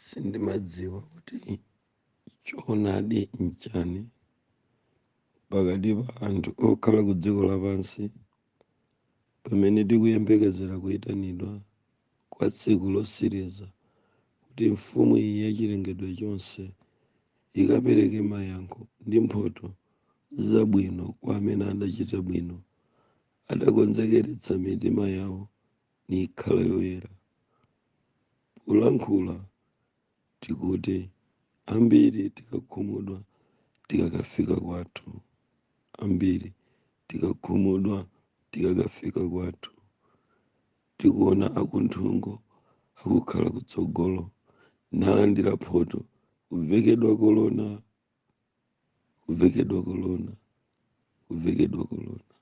sindimadziwa kuti choonadi nchani pakati pa anthu okhala ku dziko lapansi pamene tikuyembekezera kuyitanidwa kwa tsiku losiriza kuti mfumu iyi ya chilengedwe chonse ikapereke mayankho ndi mphoto zabwino kwa amene adachita bwino adakonzekeretsa mitima yawo nikhala yoyera polankhula tikuti ambiri tikakhumudwa tikakafika kwathu ambiri tikakhumudwa tikakafika kwathu tikuona akunthungo akukhala kutsogolo nalandira mphoto kuvekedwa korona kuvekedwa korona kuvekedwa korona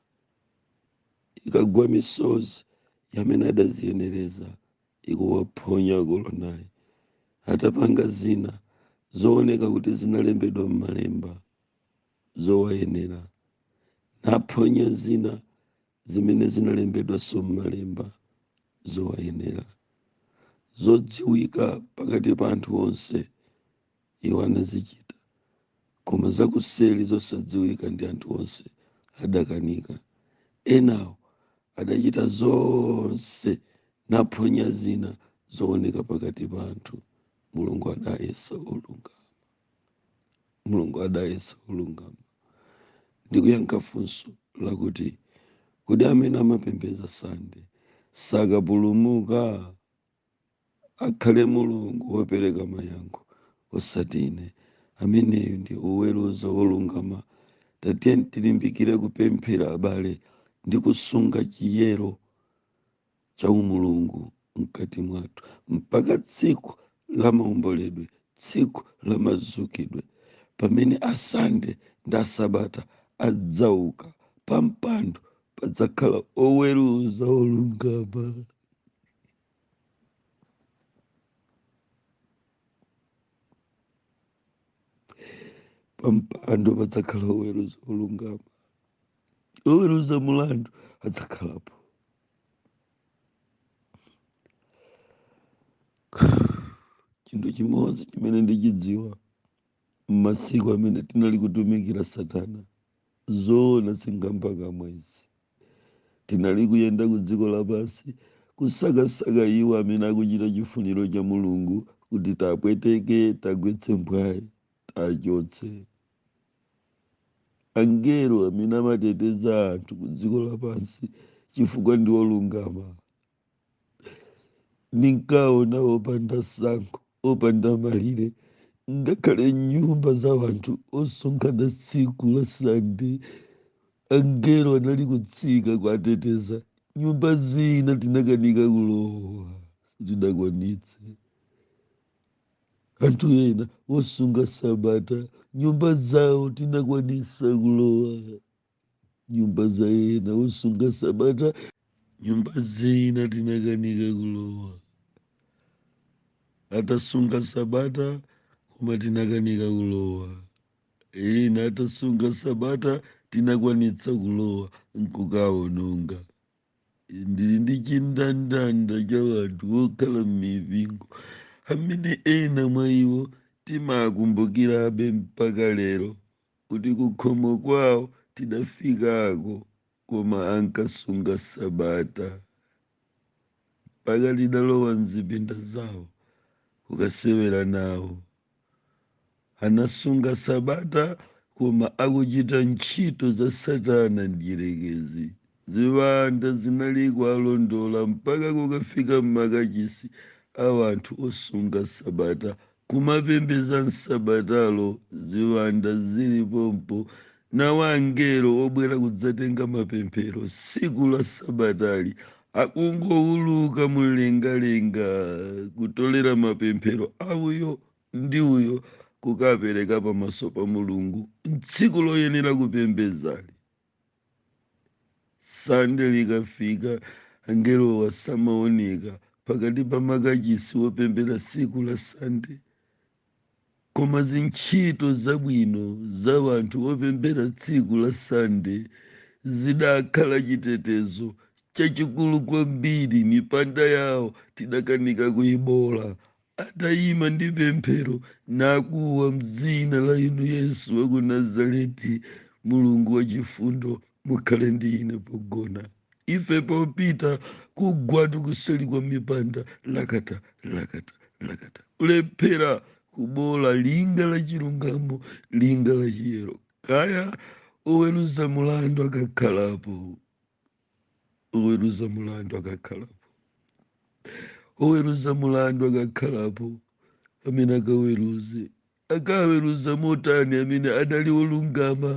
ikagwa misozi ya amene adaziyenereza ikuwaphonya koronayi atapanga zina zooneka kuti zinalembedwa m'malemba zowayenera naphonya zina zimene zinalembedwanso m'Malemba zowayenera, zodziwika pakati pa anthu onse, iwo anazichita, koma zakuseri zosadziwika ndi anthu onse adakanika. Enawo adachita zonse, naphonya zina zooneka pakati pa anthu. Mulungu adayesa olungama. mulungu adayesa wolungama ndikuyankha funso lakuti kodi amene amapembedza sande sakapulumuka akhale mulungu wopereka mayankho osati ine ameneyo ndi woweruza wolungama tatiye tilimbikire kupemphera abale ndi kusunga chiyero cha umulungu mkati mwathu mpaka tsiku la maomboledwe tsiku la mazukidwe pamene asande ndi asabata adzauka pa mpando padzakhala woweruza wolungama pa mpando padzakhala woweruza wolungama woweruza mulandu adzakhalapo chinthu chimodzi chimene ndichidziwa m'masiku amene tinali kutumikira satana zoona sinkhamva kamwa izi tinali kuyenda ku dziko lapansi kusakasaka iwo amene akuchita chifuniro cha mulungu kuti tapweteke tagwetse mphwayi tachotse angelo amene amateteza anthu ku dziko lapansi chifukwa ndi olungama ndinkaona opanda tsankho opanda malire ngakhale nyumba za anthu osonkhana tsiku la sande angelo anali kutsika kuateteza nyumba zina tinakanika kulowa sitinakwanitse anthu ena osunga sabata nyumba zawo tinakwanisa kulowa nyumba za ena osunga sabata nyumba zina tinakanika kulowa atasunga sabata koma tinakanika kulowa ena atasunga sabata tinakwanitsa kulowa nkukaononga ndili ndi chindandanda cha anthu okhala m'mipingo amene ena mwa iwo timakumbukirabe mpaka lero kuti kukhomo kwawo tidafikako koma ankasunga sabata mpaka tidalowa mzipinda zawo kukasewera nawo anasunga sabata koma akuchita ntchito za satana mdyerekezi Ziwanda zinali kuwalondola mpaka kukafika m'makachisi a anthu osunga Sabata, kumapembedza m'Sabatalo. Ziwanda zili pompo, nawo angelo obwera kudzatenga mapemphero tsiku la Sabatali akungouluka mumlengalenga kutolera mapemphero a uyo ndi uyo kukapereka pamaso pa Mulungu m'tsiku loyenera kupembedzali. sande likafika angelowa samaoneka pakati pa makachisi opembera tsiku la sande koma zintchito zabwino za anthu opembera tsiku la sande zidakhala chitetezo chachikulu kwambiri mipanda yawo tidakanika kuyibola atayima ndi pemphero nakuwa m'dzina la inu yesu wa ku nazareti mulungu wachifundo mukhale ndi ine pogona ife popita kugwatu kuseli kwa mipanda lakata lakata lakata kulephera kubola linga la chilungamo linga la chiyero kaya oweruza mulandu akakhalapo oweruza mulandu akakhalapo oweruza mulandu akakhalapo amene akaweruze akaweruza motani amene adali olungama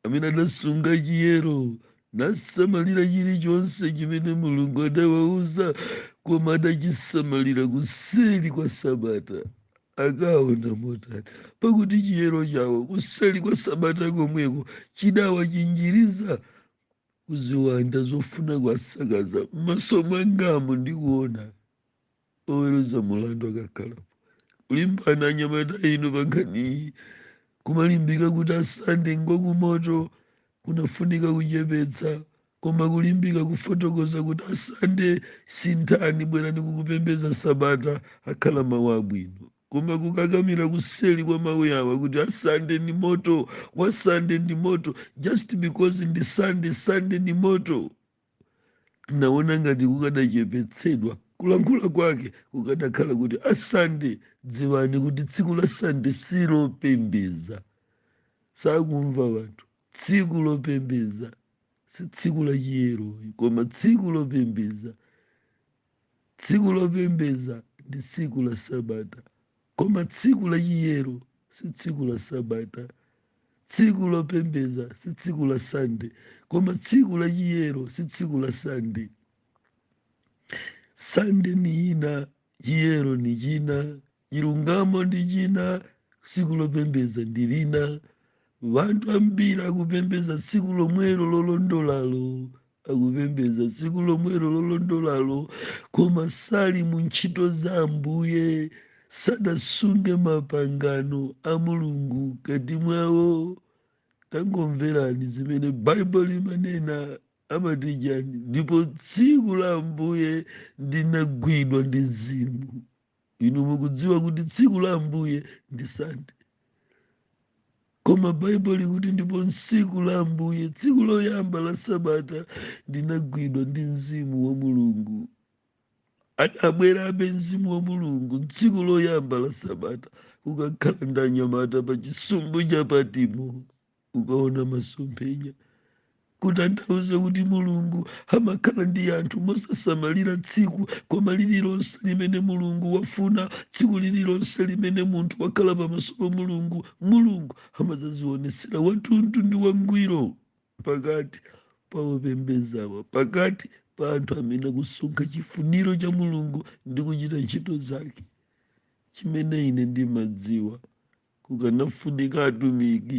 amene adasunga chiyero nasamalira chilichonse chimene mulungu adawauza koma adachisamalira kuseli kwa sabata akaona motani pakuti chiyero chawo kuseli kwa sabata komweko chidawachinjiriza kuziwanda zofuna kuwasakaza m'maso mwangamo ndikuona oweruza mulandu akakhalapo kulimbana anyamata inu pankhaniyi kumalimbika kuti asande ngwakumoto kunafunika kuchepetsa koma kulimbika kufotokoza kuti asande sinthani bwerani kukupembeza sabata akhala mawu abwino Koma kukakamira kuseli kwa mawu yawa kuti a Sande ndi moto, wa Sande ndi moto, just because ndi Sande, Sande ndi moto. Naona ngati kukadachepetsedwa kulankhula kwake kukadakhala kuti a Sande dziwani kuti tsiku la Sande si lopembeza. Sakumva wanthu. Tsiku lopembeza si tsiku la chiyero koma tsiku lopembeza. Tsiku lopembeza ndi tsiku la Sabata, koma tsiku la chiyero si tsiku la Sabata. Tsiku lopembeza si tsiku la Sande, koma tsiku la chiyero si tsiku la Sande. Sande ni ina, chiyero ni china. Chilungamo ndi china, tsiku lopembeza ndi lina. Wanthu ambiri akupembeza tsiku lomwelo lolondolalo, akupembeza tsiku lomwelo lolondolalo, koma sali mu ntchito za Ambuye, sadasunge mapangano a Mulungu kati mwawo. Tangomverani zimene Baibulo limanena amati chani, ndipo tsiku la Ambuye ndinagwidwa ndi mzimu. inu mukudziwa kuti tsiku la ambuye ndi sande koma baibulo likuti ndipo tsiku la ambuye tsiku loyamba la sabata ndinagwidwa ndi mzimu wa mulungu adabwerabe mzimu wa mulungu tsiku loyamba la sabata ukakhala ndi anyamata pa chisumbu cha patimo ukaona masomphenya kutanthauza kuti mulungu amakhala ndi anthu mosasamalira tsiku koma lililonse limene mulungu wafuna tsiku lililonse limene munthu wakhala pamaso pa mulungu mulungu amadzazionetsera wathunthu ndi wangwiro pakati pa opembezawa pakati pa anthu amene akusunga chifuniro cha mulungu ndi kuchita ntchito zake chimene ine ndimadziwa Kukanafunika atumiki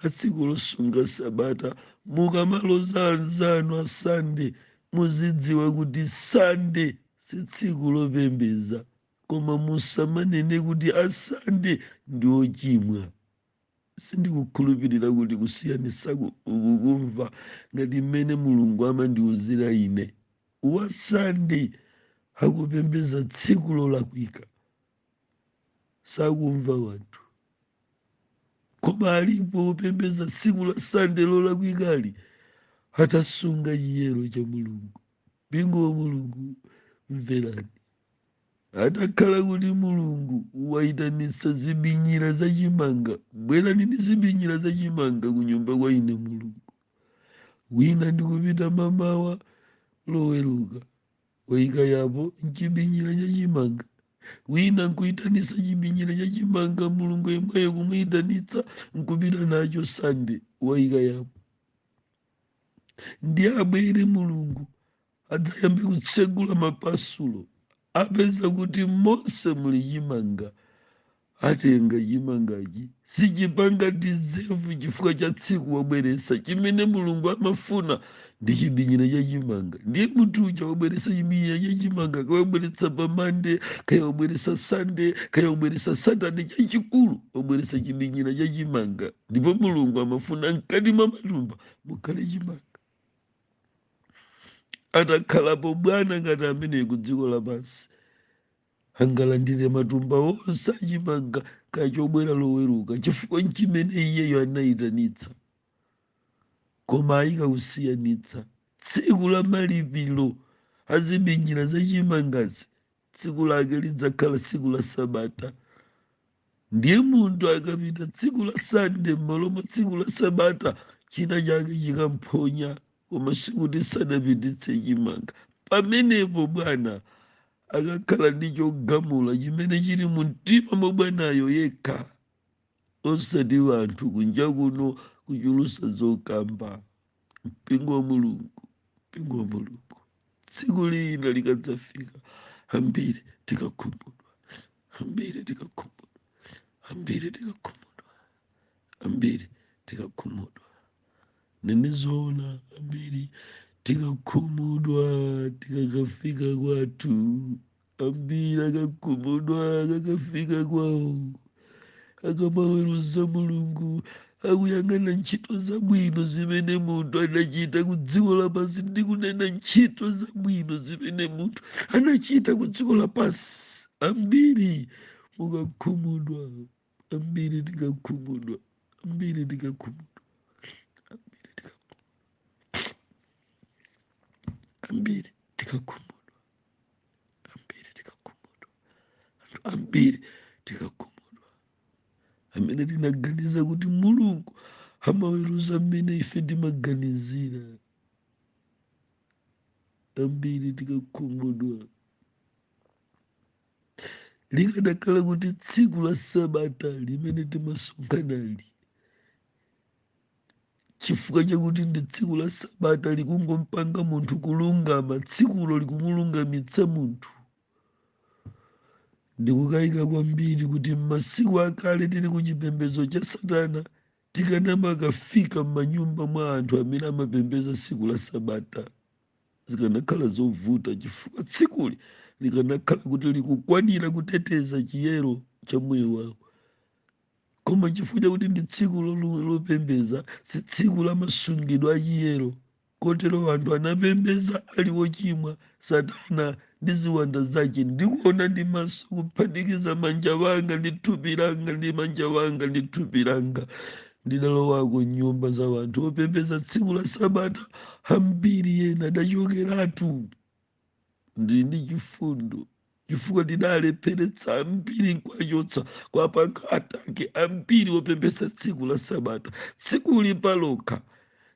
a tsiku losunga Sabata. Mukamaloza anzanu a Sande, muzidziwa kuti Sande si tsiku lopembeza. Koma musamanene kuti a Sande ndi ochimwa. Sindikukhulupirira kuti kusiyanitsaku ukukumva ngati mmene Mulungu amandiuzira ine. Wa Sande akupembeza tsiku lolakwika. sakumva wanthu koma alipo opembeza tsiku la sande lolakwikalo atasunga chiyero cha mulungu mpingo wa mulungu mverani atakhala kuti mulungu wayitanitsa zibinyira za chimanga bwerani ndi zibinyira za chimanga ku nyumba kwa ine mulungu wina ndikupita mamawa loweruka wayika apo chibinyira cha chimanga wina nkuyitanitsa chibinyira cha chimanga mulungu yemweyo kumuyitanitsa nkupita nacho sande wayika apo ndiye abwere mulungu adzayambe kutsegula mapasulo apeza kuti monse muli chimanga atenga chimangachi sichipanga dizevu chifukwa cha tsiku wabweresa chimene mulungu amafuna ndi chibinyira cha chimanga ndiye munthu uja wabweresa chibinyira cha chimanga kaya wabweresa pa mande kaya wabweresa sande kaya wabweresa satade chachikulu wabweresa chibinyira cha chimanga ndipo mulungu amafuna mkati mwa matumba mukhale chimanga atakhalapo bwana ngati amene ku dziko lapansi angalandire matumba onse achimanga kaya chobwera loweruka chifukwa nchimene iyeyo anayitanitsa koma aika kusiyanitsa tsiku la malipiro azibinyira zachimangazi tsiku lake lidzakhala tsiku la sabata ndiye munthu akapita tsiku la sande m'malo mwa tsiku la sabata china chake chikamphonya koma sikuti sadapititse chimanga pamenepo bwana akakhala ndi chogamula chimene chili mu mtima mwa bwanayo yekha osati wanthu kunja kuno kuchulusa zokamba mpingo wa mulungu mpingo wa mulungu tsiku lina likadzafika ambiri tikakhumudwa ambiri tikakhumudwa ambiri tikakhumudwa ambiri tikakhumudwa nnena zoona ambiri tikakhumudwa tikakafika kwathu ambiri akakhumudwa akakafika kwawo akamaweruza mulungu akuyang'ana ntchito zabwino zimene munthu anachita ku dziko lapansi ndikunena ntchito zabwino zimene munthu anachita ku dziko lapansi ambiri mukakhumudwa ambiri tikakhumudwa ambiri tikakhumudwa ambiri tikakhumudwa ambiri tikakhumudwa ambiri tikakhumudwa anthu ambiri tikakhumudwa amene tinaganiza kuti mulungu amaweruza mmene ife timaganizira ambiri tikakhumudwa likadakhala kuti tsiku la sabata limene timasonkhanali chifukwa chakuti ndi tsiku la sabata likungompanga munthu kulungama tsikulo likumulungamitsa munthu ndikukayika kwambiri kuti m'masiku akale tili ku chipembedzo cha satana tikanamakafika m'manyumba mwa anthu amene amapembeza tsiku la sabata zikanakhala zovuta chifukwa tsikuli likanakhala kuti likukwanira kuteteza chiyero cha moyo wawo koma chifukwa chakuti ndi tsiku lopembeza si tsiku la masungidwe achiyero kotero anthu anapembeza ali wochimwa satana ndi ziwanda zake ndikuona ndi maso kuphatikiza manja wanga ndi thupi langa ndi manja wanga ndi thupi langa ndidalowako nyumba za wanthu opembeza tsiku la sabata ambiri ena adachokeratu ndili ndi chifundo chifukwa ndidalepheretsa ambiri nkwachotsa kwa pankha atake ambiri opembeza tsiku la sabata tsikuli palokha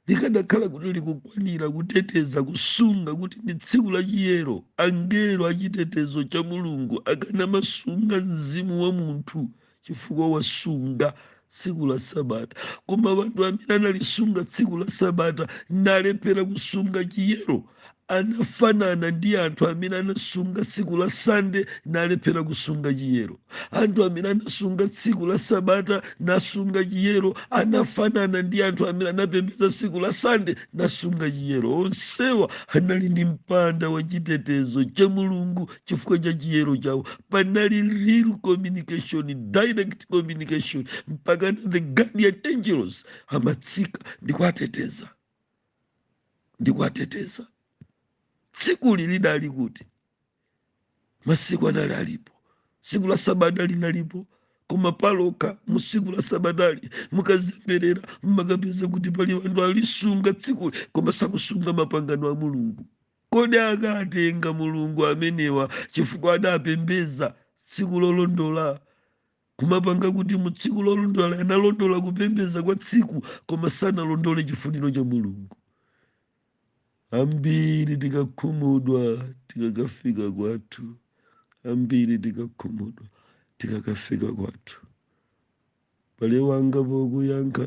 likanakhala kuti likukwanira kuteteza kusunga kuti ndi tsiku la chiyero angelo achitetezo cha mulungu akanamasunga mzimu wa munthu chifukwa wasunga tsiku la sabata koma wanthu amene analisunga tsiku la sabata nalephera kusunga chiyero anafanana ndi anthu amene anasunga tsiku la sande nalephera kusunga chiyero anthu amene anasunga tsiku la sabata nasunga chiyero anafanana ndi anthu amene anapembedza tsiku la sande nasunga chiyero onsewa anali ndi mpanda wa chitetezo cha mulungu chifukwa cha chiyero chawo panali real communication direct communication mpakana the guardian angels amatsika ndi kuwateteza ndi kuwateteza tsikuli lidali kuti masiku anali alipo tsiku la sabata linalipo koma palokha mu tsiku la sabatali mukazemberera mumakapeza kuti pali anthu alisunga tsikuli koma sakusunga mapangano a mulungu Kodi akatenga Mulungu amenewa chifukwa adapembeza tsiku lolondola? Kumapanga kuti mu tsiku lolondola analondola kupembeza kwa tsiku koma sanalondole chifuniro cha Mulungu. Ambiri tikakhumudwa tikakafika kwathu. Ambiri tikakhumudwa tikakafika kwathu. Mbale wanga pokuyankha,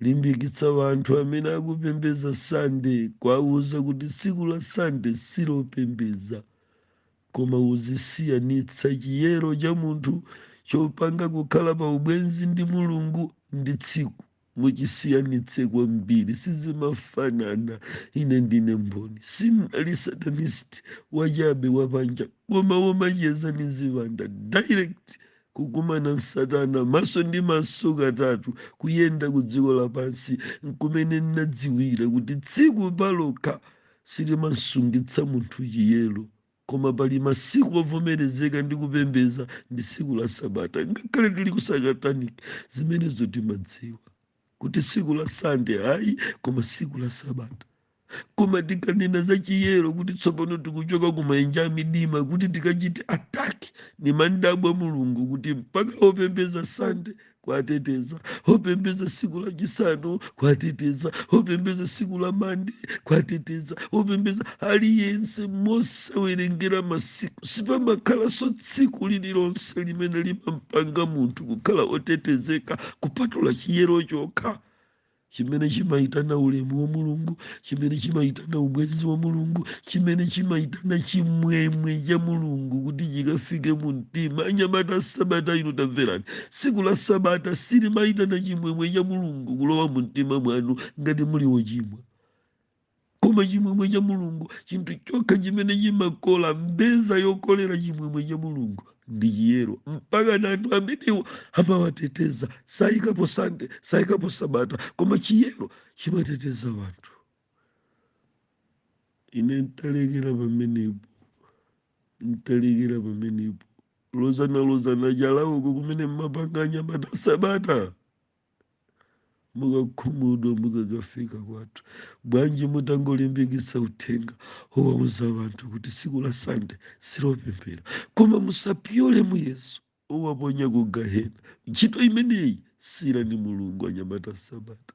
limbikitsa wanthu amene akupembeza Sande kuwauza kuti tsiku la Sande silopembeza, koma uzisiyanitsa chiyero cha munthu chopanga kukhala pa ubwenzi ndi Mulungu ndi tsiku. muchisiyanitse kwambiri sizimafanana ine ndine mboni sinali satanist wachabe wapanja koma womacheza ndi ziwanda direct kukumana n'satana maso ndi maso katatu kuyenda ku dziko lapansi nkumene nnadziwira kuti tsiku palokha silimasungitsa munthu chiyero Koma pali masiku ovomerezeka ndi kupembeza ndi siku la sabata ngakhale tili ku sataniki zimenezo timadziwa kuti siku la sande ayi koma siku la sabata koma tikanena za chiyero kuti tsopano tikuchoka ku maenje a midima kuti tikachite ataki nimadabwa mulungu kuti mpaka opembeza sande kuwateteza opembeza siku la chisanu kuwateteza opembeza siku la mande kuwateteza opembeza aliyense mosawerengera masiku sipamakhalanso tsiku lililonse limene limampanga munthu kukhala otetezeka kupatula chiyero chokha chimene chimaitana ulemu wa mulungu chimene chimaitana ubwenzi wa mulungu chimene chimaitana chimwemwe cha mulungu kuti chikafike mu mtima anyamata a sabata ino tamverani tsiku la sabata silimaitana chimwemwe cha mulungu kulowa mu mtima mwanu ngati muli wochimwa koma chimwemwe cha mulungu chinthu chokha chimene chimakola mbeza yokolera chimwemwe cha mulungu ndi chiyero mpaka na anthu amenewo amawateteza sayikapo sande sayikapo sabata koma chiyero chimateteza wanthu ine ntalekera pamenepo ntalekera pamenepo kulozana lozana chala uko kumene mmapanga anyamata a sabata mukakhumudwa mukakafika kwathu bwanji mutangolimbikitsa uthenga owauza wanthu kuti tsiku la sande silopemphera koma musapyole muyeso owaponya ku gahena ntchito imeneyi siirani mulungu anyamata a sabata